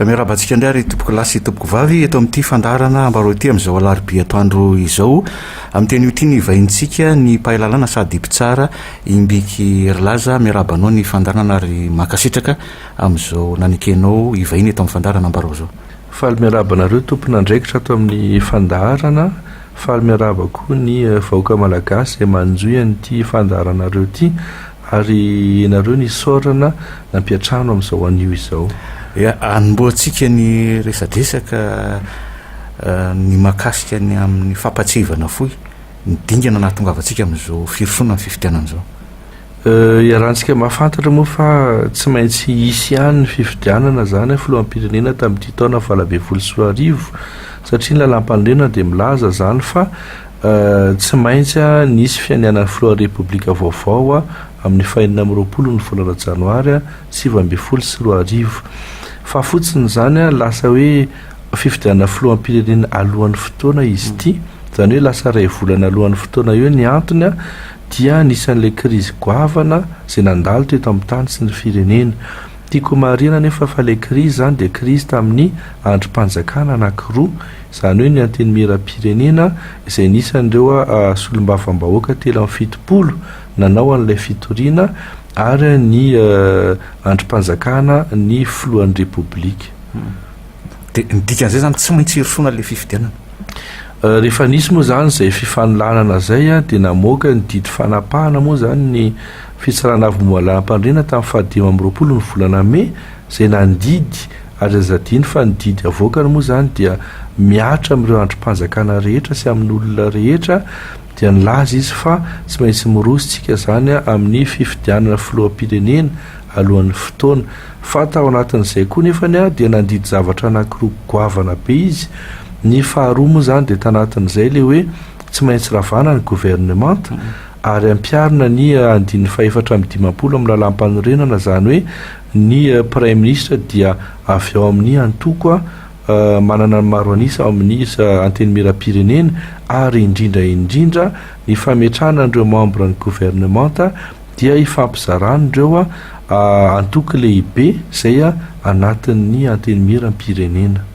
Miarahaba antsika indray ary tompoko lahy sy tompoko vavy eto amin'ity fandaharana ambaro ity amin'izao alarobia atoandro izao amin'ny teny ity ny vahintsika ny mpahay lalàna sady mpitsara Imbiky Rilaza miarahaba anao ny fandaharana ary mankasitraka amin'izao nanekenao hivahiny eto amin'ny fandaharana ambaro izao. Faly miarahaba anareo tompon'andraikitra ato amin'ny fandaharana, faly miarahaba koa ny vahoaka malagasy izay manjohy an'ity fandaharanareo ity Ary ianareo nisaorana nampiantrano amin'izao anio izao. Dia anombohantsika ny resadresaka ny mahakasika ny amin'ny fampahatsiahivana fohy ny dingana nahatongavantsika amin'izao firosoana ny fifidianana izao. Iarahantsika mahafantatra moa fa tsy maintsy hisy ihany ny fifidianana izany filoham-pirenena tamin'ity taona valo ambin'ny folo sy roa arivo satria ny lalàmpanorenana dia milaza izany fa Tsy maintsy nisy fianianan'ny Filohan'ny Repoblika vaovao amin'ny fahenina amby roapolo ny volana Janoary sivy ambin'ny folo sy roa arivo. Fa fotsiny izany lasa hoe fifidianana Filoham-pirenena alohan'ny fotoana izy ity, izany hoe lasa iray volana alohan'ny fotoana eo, ny antony dia anisan'ilay krizy goavana izay nandalo teto amin'ny tany sy ny firenena. Tiako homarihina anefa fa ilay krizy izany dia krizy tamin'ny andrim-panjakana anankiroa, izany hoe ny Antenimierampirenena izay nisy an'ireo solombavambahoaka telo amby fitopolo nanao an'ilay fitoriana ary ny andrim-panjakana ny filohan'ny Repoblika. Dia ny dikan'izay izany tsy maintsy hirosoana ilay fifidianana. Rehefa nisy moa izany izay fifanolanana izay dia namoaka ny didy fanapahana moa izany ny Fitsarana avy Moala-Ampandriana tamin'ny fahadimy amby roapolo ny volana Mey izay nandidy ary aza adino fa ny didy avoakany moa izany dia mihatra amin'ireo andrim-panjakana rehetra sy amin'ny olona rehetra dia nilaza izy fa tsy maintsy miroso tsika izany amin'ny fifidianana filoham-pirenena alohan'ny fotoana fa tao anatin'izay koa nefany dia nandidy zavatra anakiroa goavana be izy ny faharoa moa izany dia tanatin'izay ilay hoe tsy maintsy ravana ny governemanta ary ampiharina ny andininy fahefatra amby dimampolo amin'ny Lalàmpanorenana, izany hoe ny Praiminisitra dia avy ao amin'ny antoko manana ny maro an'isa ao amin'ny Antenimierampirenena ary indrindra indrindra ny fametrahana an'ireo mambran'ny governemanta dia ifampizaran'ireo antoko lehibe izay anatin'ny Antenimierampirenena.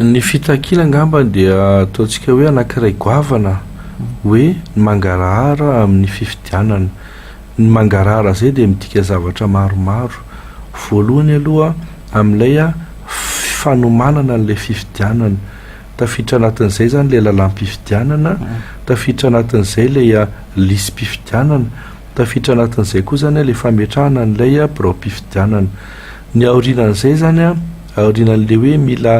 Ny fitakiana angambany dia ataontsika hoe anankiray goavana hoe ny mangarahara amin'ny fifidianana. Ny mangarahara izay dia midika zavatra maromaro. Voalohany aloha amin'ilay fanomanana an'ilay fifidianana. Tafiditra anatin'izay izany ilay lalàm-pifidianana, tafiditra anatin'izay ilay lisi-pifidianana. Tafiditra anatin'izay koa izany ilay fametrahana an'ilay biraom-pifidianana. Ny aorianan'izay izany, aorianan'ilay hoe mila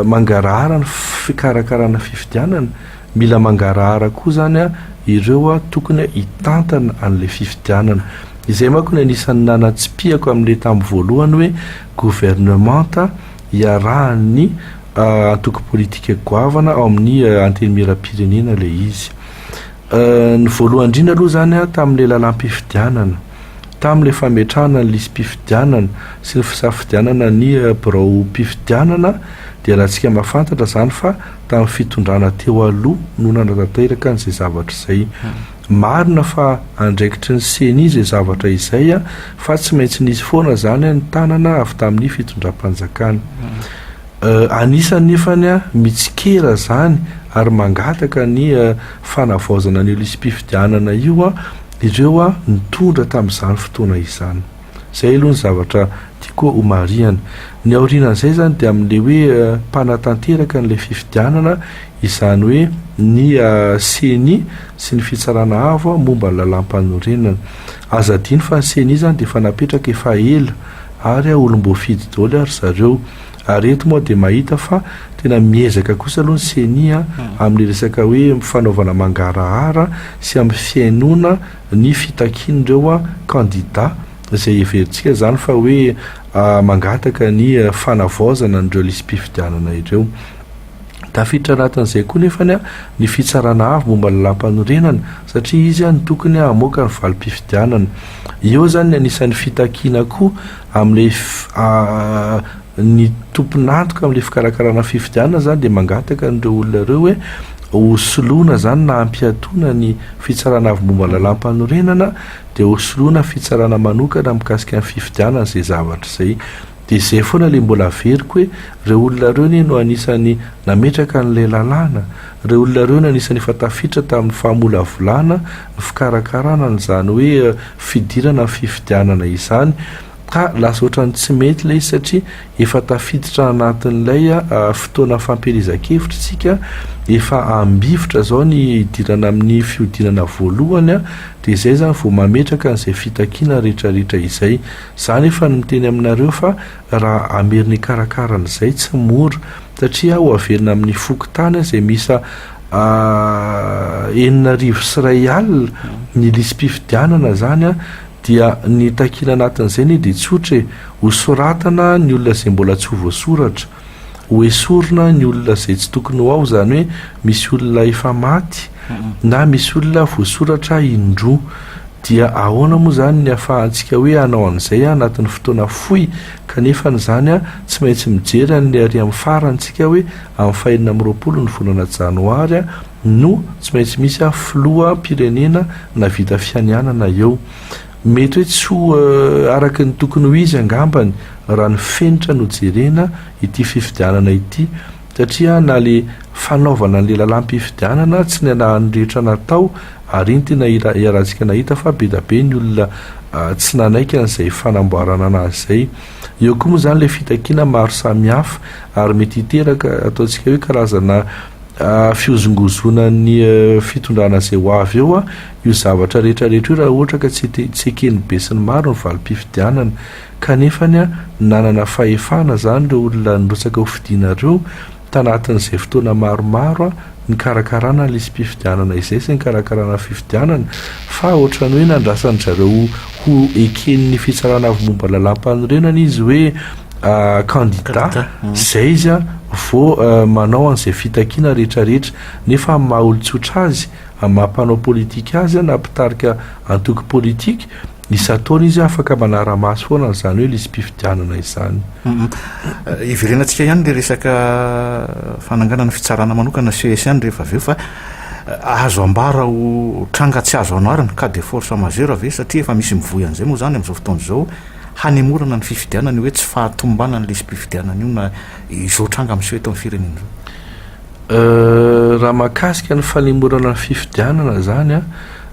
mangarahara ny fikarakarana fifidianana, mila mangarahara koa izany ireo tokony hitantana an'ilay fifidianana. Izay manko no anisan'ny nanatsipihako amin'ilay tamin'ny voalohany hoe governemanta iarahan'ny antoko politika goavana ao amin'ny Antenimierampirenena ilay izy. Ny voalohany indrindra aloha izany tamin'ilay lalam-pifidianana, tamin'ilay fametrahana ny lisi-pifidianana sy ny fisafidianana ny biraom-pifidianana dia alantsika mahafantatra izany fa tamin'ny fitondrana teo aloha no nanatanteraka an'izay zavatra izay. Marina fa andraikitry ny ceni izay zavatra izay fa tsy maintsy nisy foana izany ny tanana avy tamin'ny fitondram-panjakana. Anisany efa ny mitsikera izany ary mangataka ny fanavaozana an'io lisi-pifidianana io ireo nitondra tamin'izany fotoana izany. Izay aloha ny zavatra tiako homarihana. Ny aorianan'izay izany dia amin'ilay hoe mpanatanteraka an'ilay fifidianana, izany hoe ny ceni sy ny Fitsarana Avo momba ny Lalàmpanorenana. Aza adino fa ny ceni izany dia efa napetraka efa ela ary olom-boafidy daholo ry zareo. Ary eto moa dia mahita fa tena miezaka kosa aloha ny ceni a, amin'ny resaka hoe fanaovana mangarahara sy amin'ny fihainoana ny fitakian'ireo kandida, izay heverintsika izany fa hoe mangataka ny fanavaozana an'ireo lisi-pifidianana ireo. Tafiditra anatin'izay koa nefany ny Fitsarana Avo momba ny Lalàmpanorenana, satria izy no tokony hamoaka ny valim-pifidianana. Eo izany ny anisan'ny fitakiana koa. Amin'ilay ny tompon'antoka amin'ilay fikarakarana fifidianana izany dia mangataka an'ireo olona ireo hoe hosoloina izany na hampiatoana ny Fitsarana Avo Momba ny Lalàmpanorenana dia hosoloina fitsarana manokana mikasika ny fifidianana izay zavatra izay. Dia izay foana ilay mbola averiko hoe ireo olona ireo anie no anisan'ny nametraka an'ilay lalàna, ireo olona ireo no anisan'ny efa tafiditra tamin'ny fahamolavolana ny fikarakarana an'izany hoe fidirana ny fifidianana izany ka lasa ohatran'ny tsy mety ilay izy satria efa tafiditra anatin'ilay fotoana fampielezan-kevitra isika efa ambivotra izao ny hidirana amin'ny fihodinana voalohany dia izay izany vao mametraka an'izay fitakiana rehetrarehetra izay za nefa ny miteny aminareo fa raha ameriny hikarakara an'izay tsy mora satria ho averina amin'ny fokontany izay misa enina arivo sy iray alina ny lisi-pifidianana zany a dia ny takiana anatin'izay ne dia tsotra e ho soratana ny olona izay mbola tsy ho voasoratra ho esorina ny olona izay tsy tokony ho ao zany hoe misy olona efa maty na misy olona voasoratra indroa dia ahoana moa zany ny afahantsika hoe hanao an'izay anatin'ny fotoana fohy kanefa n'izany a tsy maintsy mijery an'le ary amin'ny farany tsika hoe Amin'ny fahenina amby roapolo ny volana janoary no tsy maintsy misy filoham-pirenena navita fianianana eo. Mety hoe tsy ho araka ny tokony ho izy angambany raha ny fenitra no jerena ity fifidianana ity satria na ilay fanaovana an'ilay lalam-pifidianana tsy nialahan'ny rehetra natao ary iny tena iarahantsika nahita fa be dia be ny olona tsy nanaiky an'izay fanamboarana anazy izay Eo koa moa izany ilay fitakiana maro samihafa ary mety hiteraka ataontsika hoe karazana fihozongozonan'ny fitondrana izay ho avy eo io zavatra rehetra rehetra io raha ohatra ka tsy tsy eken'ny be sy ny maro ny valim-pifidianana. Kanefany nanana fahefana izany ireo olona nirotsaka hofidiana ireo Tanatin'izay fotoana maromaro nikarakarana ny lisi-pifidianana izay sy nikarakarana ny fifidianana fa ohatran'ny hoe nandrasan-dry zareo ho eken'ny fitsarana avy momba lalàmpanorenana izy hoe kandida izay izy vao manao an'izay fitakiana rehetrarehetra nefa amin'ny maha olon-tsotra azy, amin'ny maha mpanao politika azy na mpitarika antoko politika. Isan-taona izy afaka manara-maso foana an'izany hoe lisi-pifidianana izany. Hiverenantsika ihany ilay resaka fananganana fitsarana manokana CSN rehefa avy eo fa azo ambara ho tranga tsy azo anoarana, cas de force majeure ve satria efa misy mivoy an'izay moa izany amin'izao fotoana izao hanemorana ny fifidianana io hoe tsy fahatomombanan'ny lisi-pifidianana io na izao tranga miseho eto amin'ny firenena izao? Raha mahakasika ny fanemorana ny fifidianana izany an,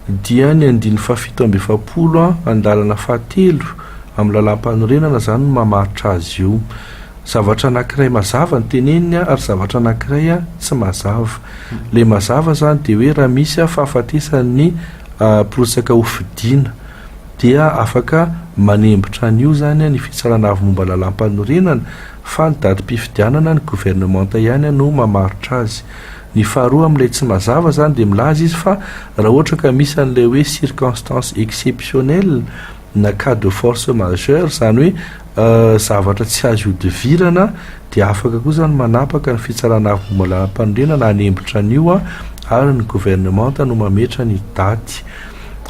Dia ny andininy fahafito amby efapolo andalana fahatelo amin'ny lalàmpanorenana izany no mamaritra azy io. Zavatra anankiray mazava no teneniny ary zavatra anankiray tsy mazava. Ilay mazava izany dia hoe raha misy fahafatesan'ny mpirotsaka hofidiana dia afaka manembotra an'io izany ny Fitsarana Avo Momba ny Lalàmpanorenana fa ny datim-pifidianana ny governemanta ihany no mamaritra azy. Ny faharoa amin'ilay tsy mazava izany dia milaza izy fa raha ohatra ka misy an'ilay hoe circonstances exceptionnelles na cas de force majeure izany hoe zavatra tsy azo ihodivirana dia afaka koa izany manapaka ny fitsarana avo momba ny lalàmpanorenana hanembitra an'io ary ny governemanta no mametra ny daty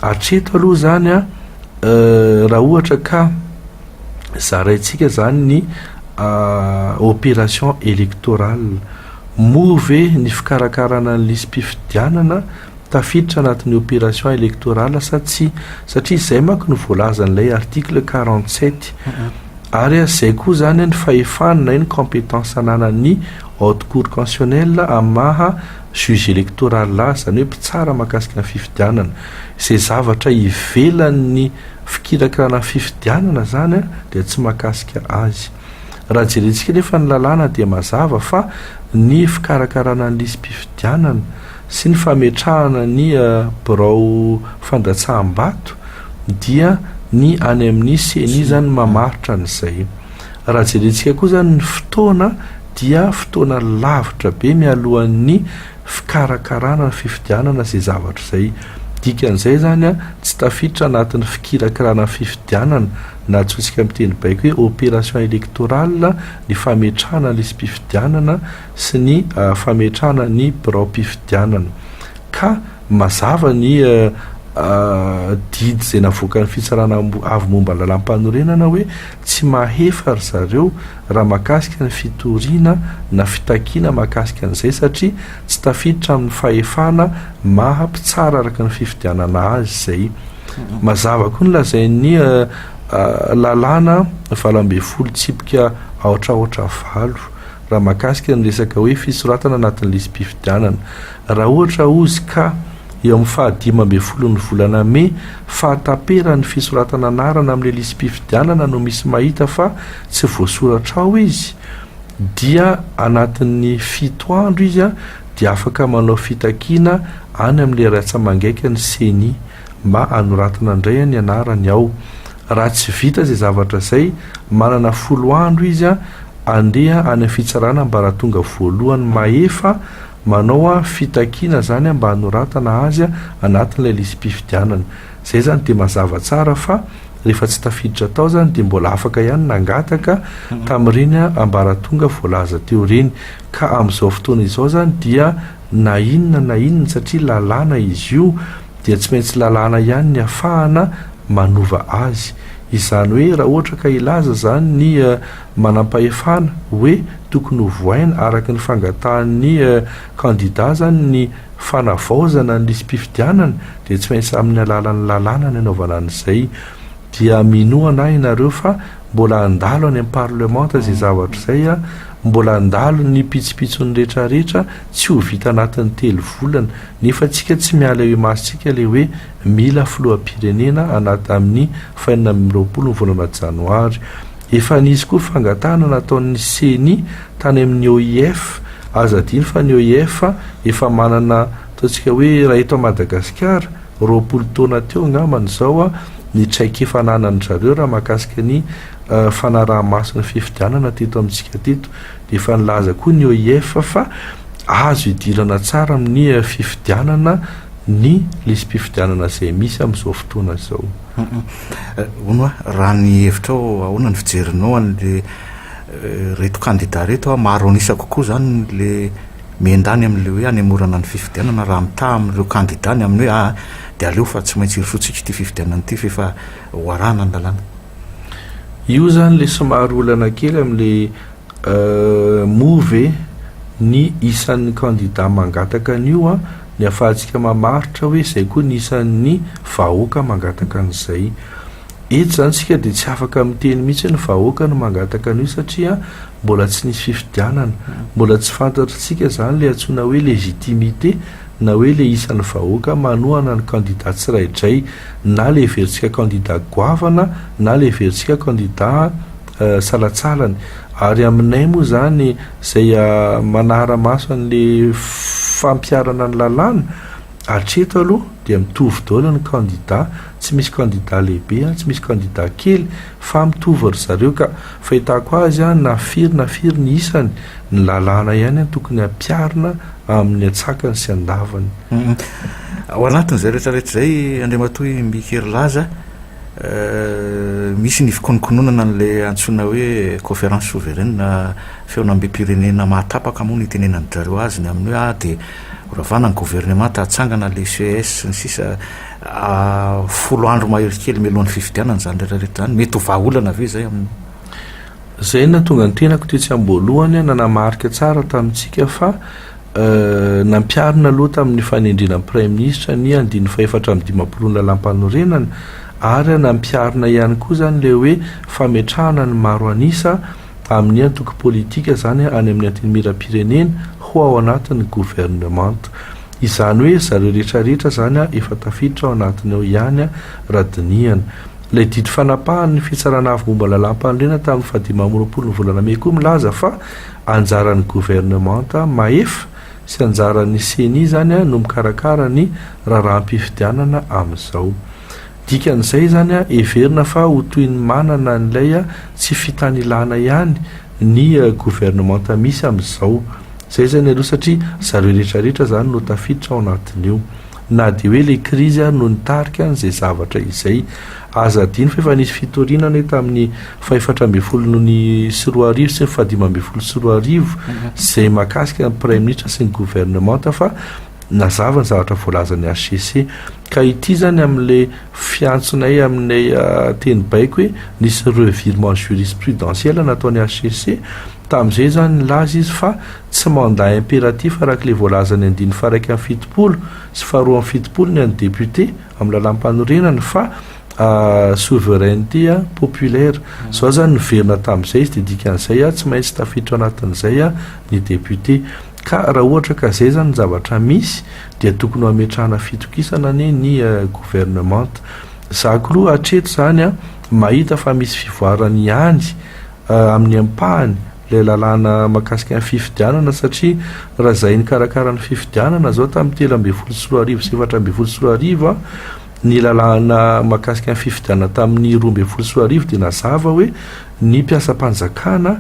hatreto aloha izany a raha ohatra ka zaraintsika izany ny opération électorale Moa ve ny fikarakarana ny lisi-pifidianana tafiditra anatin'ny opération électorale sa tsia? Satria izay manko no voalazan'ilay article quarante sept. Ary aza izay koa izany ny fahefana na hoe ny compétence ananan'ny Haute Cour Constitutionnelle amin'ny maha juge électoral azy, izany hoe mpitsara mahakasika ny fifidianana. Izay zavatra ivelan'ny fikirakirana ny fifidianana izany dia tsy mahakasika azy. Raha jerentsika anefa ny lalàna dia mazava fa ny fikarakarana ny lisi-pifidianana sy ny fametrahana ny birao fandatsaham-bato dia ny any amin'ny ceni izany mamaritra an'izay. Raha jerentsika koa izany ny fotoana dia fotoana lavitra be mialohan'ny fikarakarana ny fifidianana izay zavatra izay. Dikan'izay izany tsy tafiditra anatin'ny fikirakirana ny fifidianana na antsointsika amin'ny teny baiko hoe opération électorale, ny fametrahana ny lisi-pifidianana sy ny fametrahana ny biraom-pifidianana. Ka mazava ny didy izay navoakan'ny fitsarana avo momba ny lalàmpanorenana hoe tsy mahefa ry zareo raha mahakasika ny fitoriana na fitakiana mahakasika an'izay satria tsy tafiditra amin'ny fahefana maha mpitsara araka ny fifidianana azy izay. Mazava koa ny lazain'ny lalàna valo ambin'ny folo tsipika aotra aotra valo raha mahakasika ny resaka hoe fisoratana anatin'ny lisi-pifidianana. Raha ohatra ozy ka eo amin'ny fahadimy ambin'ny folon'ny volana mey fahataperan'ny fisoratana anarana amin'ilay lisi-pifidianana no misy mahita fa tsy voasoratra ao izy dia anatin'ny fito andro izy dia afaka manao fitakiana any amin'ilay ratsamangaika ny ceni mba hanoratana indray ny anarany ao. Raha tsy vita izay zavatra izay, manana folo andro izy handeha any amin'ny fitsarana ambaratonga voalohany mahefa manao fitakiana izany mba hanoratana azy anatin'ilay lisi-pifidianana. Izay izany dia mazava tsara fa rehefa tsy tafiditra tao izany dia mbola afaka ihany nangataka tamin'ireny ambaratonga voalaza teo ireny. Ka amin'izao fotoana izao izany dia na inona na inona satria lalàna izy io dia tsy maintsy lalàna ihany ny afahana manova azy. Izany hoe raha ohatra ka hilaza izany ny manampahefana hoe tokony ho voaina araka ny fangatahan'ny kandida izany ny fanavaozana ny lisi-pifidianana dia tsy maintsy amin'ny alalan'ny lalàna ny anaovana an'izay. Dia minoa anah ianareo fa mbola handalo any am parlemanta izay zavatra izay an, mbola handalo ny pitsopitsony rehetra rehetra tsy ho vita anatin'ny telo volana, nefa tsika tsy miala eo imasontsika le hoe mila filohampirenena anat amin'ny fahenina amby roapolo ny volana janoary. Efa nisy koa fangatahana nataon'ny ceni tany amin'ny OIF, aza adino fa ny OIF efa manana ataontsika hoe raha eto Madagasikara, roapolo taona teo angambany izao ny traikefa ananandry zareo raha mahakasika ny fanaraha-maso ny fifidianana teto amintsika teto. Dia efa nilaza koa ny OIF fa azo idirana tsara amin'ny fifidianana ny lisi-pifidianana izay misy amin'izao fotoana izao. Hono raha ny hevitrao ahoana ny fijerinao an'ilay reto kandida reto? Maro an'isa kokoa izany ilay Mienda any amin'ilay hoe hanemorana ny fifidianana raha mitaha amin'ireo kandida ny amin'ny hoe aa dia aleo fa tsy maintsy hirosoantsika ity fifidianana ity f'efa hoarahana ny lalàna. Io izany ilay somary olana kely amin'ilay move e, ny isan'ny kandida mangataka an'io an, ny ahafahantsika mamaritra hoe izay koa ny isan'ny vahoaka mangataka an'izay. Eto izany isika dia tsy afaka miteny mihitsy hoe ny vahoaka no mangataka an'io satria Mbola tsy nisy fifidianana, mbola tsy fantatr'tsika izany ilay antsoina hoe légitimité na hoe ilay isan'ny vahoaka manohana ny kandida tsiraidray, na leverintsika kandida goavana na leverintsika kandida salatsalany. Ary aminay moa izany izay manara-maso an'ilay fampiharana ny lalàna, hatreto aloha dia mitovy daholo ny kandida, tsy misy kandida lehibe, tsy misy kandida kely. Fa mitovy ry zareo ka. Fahitako azy an na firy na firy ny isany, ny lalàna ihany an tokony hampiarina amin'ny antsakany sy andavany. Ao anatin'izay rehetra rehetra izay Andriamatoa i Mby Hery Laza, misy ny fikonokononana an'ilay antsoina hoe Conférence Souveraine, Feon'Ambim-pirenena mahatapaka moa no itenenan'dry zareo azy, ny amin'ny hoe ah dia horavana ny governemanta, hatsangana ilay ces sy ny sisa. folo andro mahery kely mialohan'ny fifidianana izany rehetra rehetra izany, mety ho vahaolana ve izay aminao? Izay no nahatonga ny tenako tetsy am-boalohany nanamarika tsara tamintsika fa nampiharina aloha tamin'ny fanendrena ny Praiminisitra ny andininy fahefatra amby dimampolo ny Lalàmpanorenana ary nampiharina ihany koa izany ilay hoe fametrahana ny maro an'isa amin'ny antoko politika izany any amin'ny antenimieram-pirenena ho ao anatin'ny governemanta. Izany hoe zareo rehetra rehetra izany efa tafiditra ao anatiny ao ihany raha dinihana. Ilay didy fanapahan'ny Fitsarana Avo momba ny Lalàmpanorenana tamin'ny fahadimy amby roapolo ny volana mey koa milaza fa anjaran'ny governemanta mahefa sy anjaran'ny ceni izany no mikarakara ny raharaham-pifidianana amin'izao. Dikan'izay izany, heverina fa ho toy ny manana an'ilay tsy fitanilana ihany ny governemanta misy amin'izao. Izay izany aloha satria zareo rehetrarehetra izany no tafiditra ao anatin'io. Na dia hoe ilay krizy ary no nitarika an'izay zavatra izay. Aza adino fa efa nisy fitoriana anie tamin'ny fahefatra ambin'ny folo sy roa arivo sy ny fahadimy ambin'ny folo sy roa arivo izay mahakasika ny Praiminisitra sy ny governemanta fa nazava ny zavatra voalazan'ny HCC. Ka ity zany amin'ilay fiantsonay aminay teny baiko hoe nisy revirement jurisprudentiel nataon'ny HCC, tamin'izay zany nilaza izy fa tsy mandat impératif araka ilay voalazan'ny andininy faharaika amby fitopolo sy faharoa amby fitopolo ny an'ny député amin'ny lalàmpanorenana fa souveraineté populaire. Zao zany niverina tamin'izay izy dia dikan'izay tsy maintsy tafiditra anatin'izay ny député. Ka raha ohatra ka zay zany ny zavatra misy dia tokony ho ametrahana fitokisana anie ny gouvernement. Za klou hatreto zany an mahita fa misy fivoarany ihany amin'ny ampahany ilay lalàna mahakasika ny fifidianana satria raha zay nikarakara ny fifidianana zao tamin'ny telo ambin'ny folo sy roa arivo sy efatra ambin'ny folo sy roa arivo an ny lalàna mahakasika ny fifidianana tamin'ny roa ambin'ny folo sy roa arivo dia nazava hoe ny mpiasam-panjakana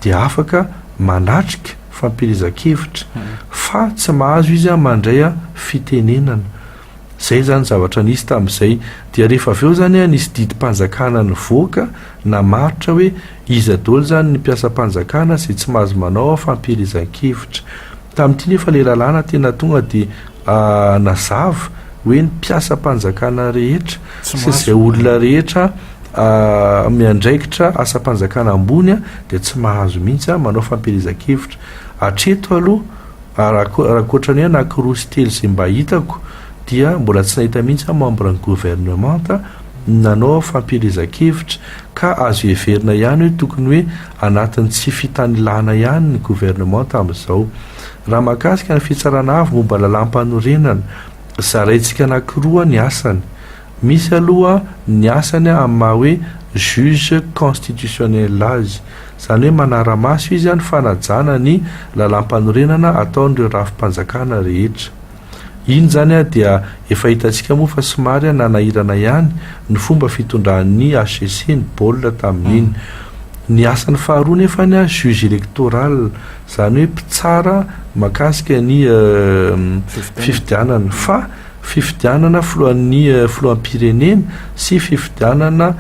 dia afaka manatrika fampielezan-kevitra fa tsy mahazo izy mandray fitenenana. Izay izany zavatra nisy tamin'izay. Dia rehefa avy eo izany nisy didim-panjakana nivoaka namaritra hoe iza daholo izany ny mpiasam-panjakana izay tsy mahazo manao fampielezan-kevitra. Tamin'ity nefa ilay lalàna tena tonga dia Nazava hoe ny mpiasam-panjakana rehetra sy izay olona rehetra miandraikitra asam-panjakana ambony dia tsy mahazo mihitsy manao fampielezan-kevitra. Hatreto aloha, raha ankoatra ny hoe anankiroa sy telo izay mba hitako, dia mbola tsy nahita mihitsy aho membre ny governemanta nanao fampielezan-kevitra. Ka azo heverina ihany hoe tokony hoe anatin'ny tsy fitanilana ihany ny governemanta amin'izao. Raha mahakasika ny Fitsarana Avo momba Lalàm-panorenana, zaraintsika anankiroa ny asany. Misy aloha ny asany amin'ny maha hoe juge constitutionnel azy. Izany hoe manara-maso izy ny fanajana ny Lalàm-panorenana ataon'ireo rafi-panjakana rehetra. Iny izany ary dia efa hitantsika moa fa somary nanahirana ihany ny fomba fitondran'ny HCC ny baolina tamin'iny. Ny asany faharoa nefa ny juge electoral, izany hoe mpitsara mahakasika ny fifidianana, fa fifidianana filohan'ny filoham-pirenena sy fifidianana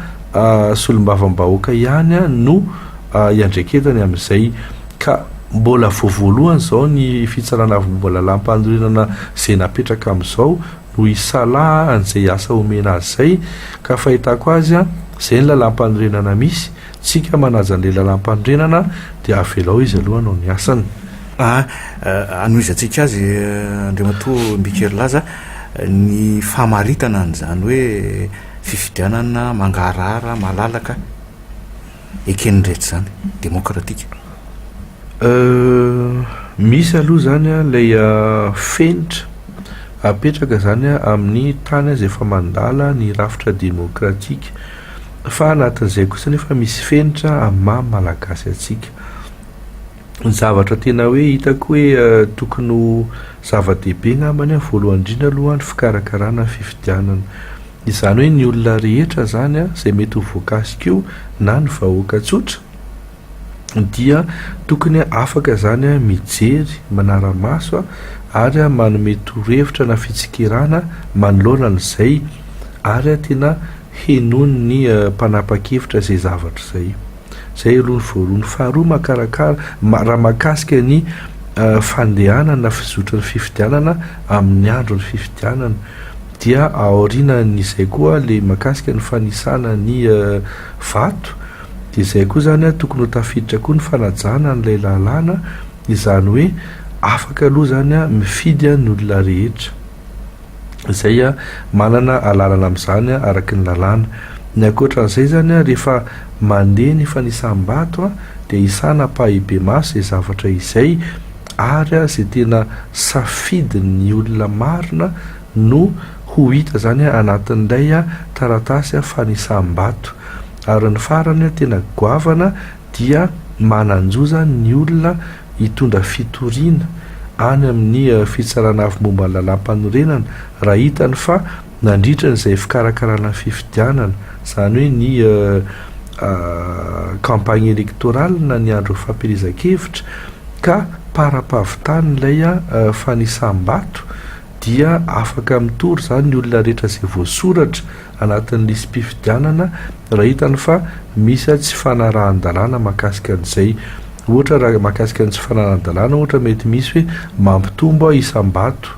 solombavambahoaka ihany no iandraiketany amin'izay. ka mbola vao voalohany izao ny fitsarana avy momba lalàmpanorenana izay napetraka amin'izao no hisalaha an'izay asa omena azy izay, ka fahitako azy an, izay ny lalàmpanorenana misy, tsika manaja an'ilay lalàmpanorenana dia avelao izy aloha hanao ny asany. A, hanohizantsika azy Andriamatoa Mbikerilaza ny famaritana an'izany hoe fifidianana mangarahara malalaka eken'ny rehetra izany, demokratika. Euh, misy aloha izany an, ilay fenitra apetraka izany an, amin'ny tany aza efa mandala ny rafitra demokratika. Fa anatin'izay kosa nefa misy fenitra amin'ny maha malagasy antsika. Ny zavatra tena hoe hitako hoe euh, tokony ho zava-dehibe ngambany an, voalohany indrindra aloha ny fikarakarana fifidianana. Izany hoe ny olona rehetra izany izay mety ho voakasika io na ny vahoaka tsotra dia tokony afaka izany mijery manara-maso ary manome torohevitra na fitsikerana manoloana an'izay ary tena henoin'ny mpanapa-kevitra izay zavatra izay. Zay aloha ny voaroa, ny faharoa makarakara raha mahakasika ny fandehanana fizotry ny fifidianana amin'ny andro ny fifidianana dia aorianan'izay koa le makasika ny fanisana ny vato de zay koa zany a tokony ho tafiditra koa ny fanajana an'ilay lalàna izany hoe afaka aloha zany a mifidy a ny olona rehetra izay manana alalana amin'izany araky ny lalàna. Ny ankoatra an'izay izany, rehefa mandeha ny fanisam-bato dia isana ampahibemaso izay zavatra izay ary izay tena safidin'ny olona marina no ho hita izany anatin'ilay taratasy fanisam-bato. Ary ny farany tena goavana dia manan-joza ny olona hitondra fitoriana any amin'ny Fitsarana Avo Momba ny Lalàmpanorenana raha hitany fa nandritra ny izay fikarakarana ny fifidianana, izany hoe ny campagne électorale na ny andron'ny fampielezan-kevitra ka para-pavitany ilay fanisam-bato dia afaka mitory izany ny olona rehetra izay voasoratra anatin'ny lisi-pifidianana raha hitany fa misy tsy fanarahan-dalàna mahakasika an'izay. Ohatra raha mahakasika ny tsy fanarahan-dalàna ohatra mety misy hoe mampitombo isam-bato.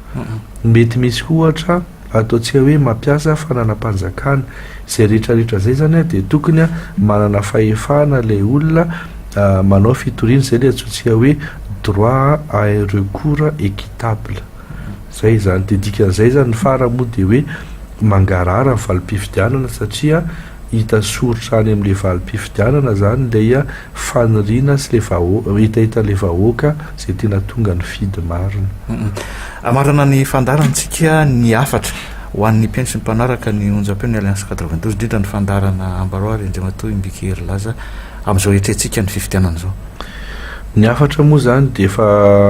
Mety misy koa ohatra ataontsika hoe mampiasa fananam-panjakana. Izay rehetrarehetra izay izany dia tokony manana fahefana ilay olona manao fitoriana izay ilay antsointsika hoe droit à un recours équitable. Zay izany, dia dikan'izay izany fara moa dia hoe mangarahara ny valim-pifidianana satria hita soritra any amin'ilay valim-pifidianana izany ilay faniriana sy ilay vahoa, hetahetan'ilay vahoaka izay tena tonga nifidy marina. Hamarana ny fandaharantsika ny hafatra ho an'ny mpihaino sy ny mpanaraka ny onjam-peo ny Alliance quatre-vingt-douze indrindra ny fandaharana Ambaroaro i Andriamatoa Imbikiherilaza amin'izao hiatrehantsika ny fifidianana izao. Ny hafatra moa izany dia efa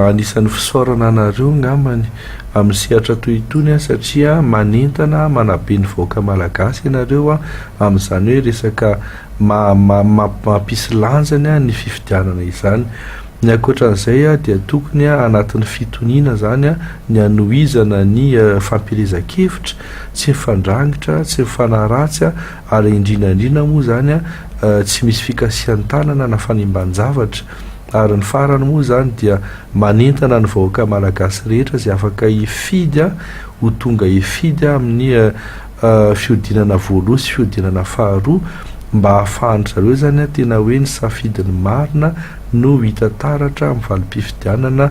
anisan'ny fisaorana anareo angambany amin'ny sehatra toy itony satria manentana, manabe ny vahoaka malagasy ianareo amin'izany hoe resaka mampisy lanjany ny fifidianana izany. Ny ankoatran'izay dia tokony anatin'ny fitoniana izany ny hanohizana ny fampielezan-kevitra tsy mifandrangitra, tsy mifanaratsy ary indrindra indrindra moa izany tsy misy fikasihan-tanana na fanimban-javatra ary ny farany moa izany dia manentana ny vahoaka malagasy rehetra izay afaka hifidy ho tonga hifidy amin'ny fihodinana voaloha sy fihodinana faharoa mba hahafahan-dry zareo izany tena hoe ny safidiny marina no hita taratra amin'ny valim-pifidianana